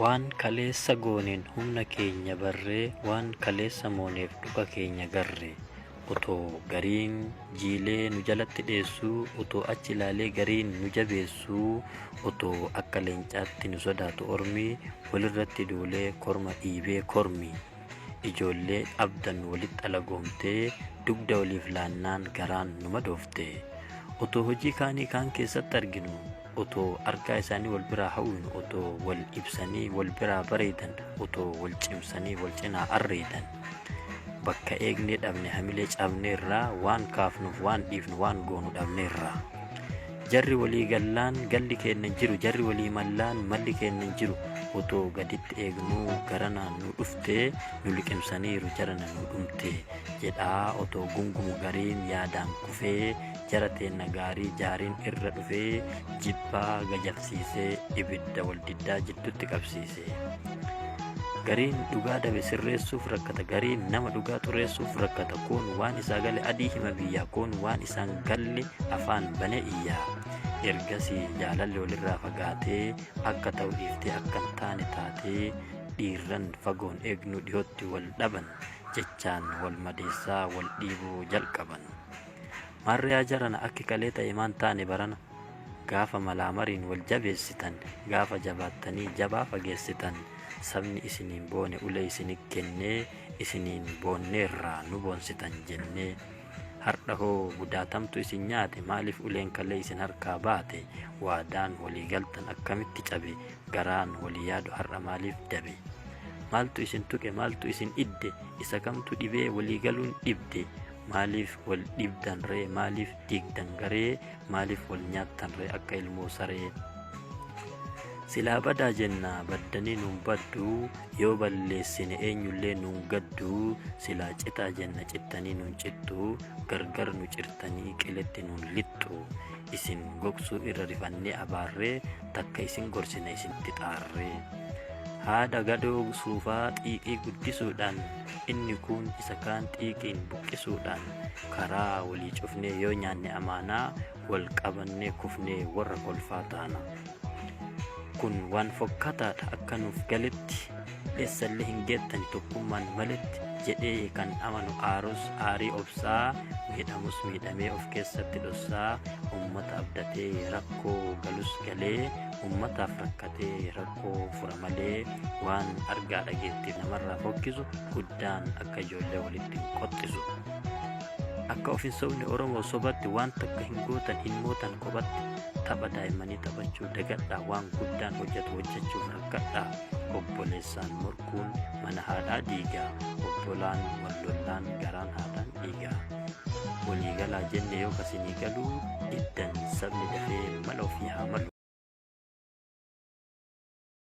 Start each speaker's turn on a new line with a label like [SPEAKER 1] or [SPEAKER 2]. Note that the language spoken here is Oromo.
[SPEAKER 1] Waan kaleessa gooneen humna keenya barree waan kaleessa mooneef dhuga keenya garree. Otoo gariin jiilee nu jalatti dheessuu, otoo achi ilaalee gariin nu jabeessuu, otoo akka leencaatti nu sodaatu ormi, walirratti duulee korma dhiibee kormi. Ijoollee abdan walitti alagoomtee, dugda waliif laannaan garaan nu madoofte. Otoo hojii kaanii kaan keessatti arginu, otoo argaa isaanii wal biraa hawwinu otoo wal ibsanii wal biraa bareedan otoo wal cimsanii wal cinaa arreedan bakka eegnee dhabne hamilee cabneerraa waan kaafnuuf waan dhiifnu waan goonu dhabneerraa jarri walii gallaan galli keenya hin jiru jarri walii mallaan malli keenya hin jiru otoo gaditti eegnuu garanaan nu dhuftee nu liqimsaniiru jarana nu dhumte jedhaa otoo gungumu gariin yaadaan kufee jara teenna gaarii jaariin irra dhufee jibbaa gajalsiisee ibidda waldiddaa jiddutti qabsiise gariin dhugaa dabe sirreessuuf rakkata gariin nama dhugaa xureessuuf rakkata koon waan isaa gale adii hima biyyaa koon waan isaan galle afaan bane iyyaa ergasii jaalalli walirraa fagaatee akka ta'u dhiiftee akka hin taane taatee dhiirran fagoon eegnu dhiyootti wal dhaban jechaan wal madeessaa wal dhiibuu jalqaban. Maarriyaa jarana akki kalee ta'e maan taane barana gaafa malaamariin wal jabeessitan gaafa jabaattanii jabaa fageessitan sabni isiniin boone ulee isini kennee isiniin boonneerraa nu boonsitan jennee hardha hoo gudaatamtu isin nyaate maaliif uleen kalee isin harkaa baate waadaan walii galtan akkamitti cabe garaan walii yaadu har'a maaliif dabe maaltu isin tuqe maaltu isin idde isa kamtu dhibee walii galuun dhibde Maaliif wal dhibdan ree maaliif diigdan garee maaliif wal nyaattan ree akka ilmoo saree silaa badaa jenna baddanii nuun baddu yoo balleessine eenyullee nuun gaddu silaa citaa jenna cittanii nuun cittu gargar nu cirtanii qiletti nuun lixxu isin gogsuu irra rifannee abaarree takka isin gorsina isinitti xaarree haadha gadoo suufaa xiiqii guddisuudhaan inni kuun isa kaan xiiqiin buqqisuudhaan karaa walii cufnee yoo nyaanne amaanaa wal qabannee kufnee warra kolfaa taana kun waan fokkataadha akka nuuf galetti eessallee hin geettan tokkummaan maletti jedhee kan amanu aarus aarii obsaa miidhamus miidhamee of keessatti dhossaa ummata abdatee rakkoo galus galee ummataaf rakkatee rakkoo rakkoo fura malee waan argaa dhageettiif namarraa fokkisu guddaan akka ijoollee walitti hin qoxxisu. Akka of hin sobne Oromoo sobatti waan takka hin gootan hin mootan kophatti tapha daa'immanii taphachuu dagadhaa waan guddaan hojjetu hojjechuuf rakkadhaa obboleessaan morkuun mana haadhaa diigaa obbolaan wallollaan garaan haadhaan dhiigaa. Walii galaa jenne yoo kasinii galuu diddan sabni dafee mala ofii haa malu.